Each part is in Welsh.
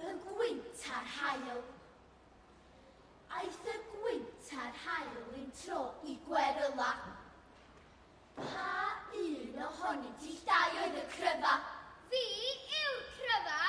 Y gwynt a'r haul. Aeth y gwynt a'r haul un tro i Gweryla. Pa un ohonynt i'ch dau oedd y cryfa? Fi yw'r cryfa!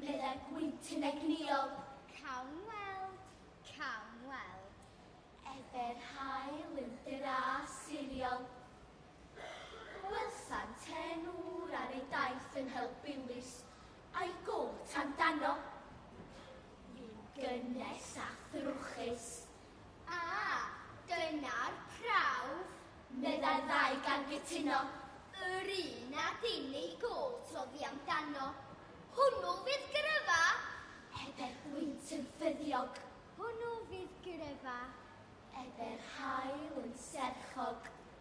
meddai gwynt yn egnïol. Cawn weld, cawn weld. Efe'r haul yn dra siriol. Gwelsan ten ŵr ar ei daith yn help Bywys, a'i gôt amdano. Fu'n gynnes a thrwchus. A, dyna'r prawf! meddai'r ddau gan gytuno. Yr un a dim ei gôt oddi amdano. Hwnnw fydd Gryfa! ebe'r gwynt yn ffyddiog. Hwnnw fydd Gryfa! ebe'r haul yn serchog.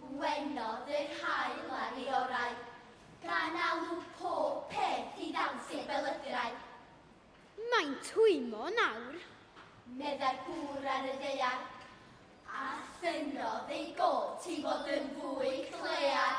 Gwenodd yr haul ar ei orau, gan alw pob peth i ddant i'r belydrau. Mae'n twymmo nawr. Meddai'r gŵr ar y ddaear. A thynnodd ei gôt i fod yn fwy clear.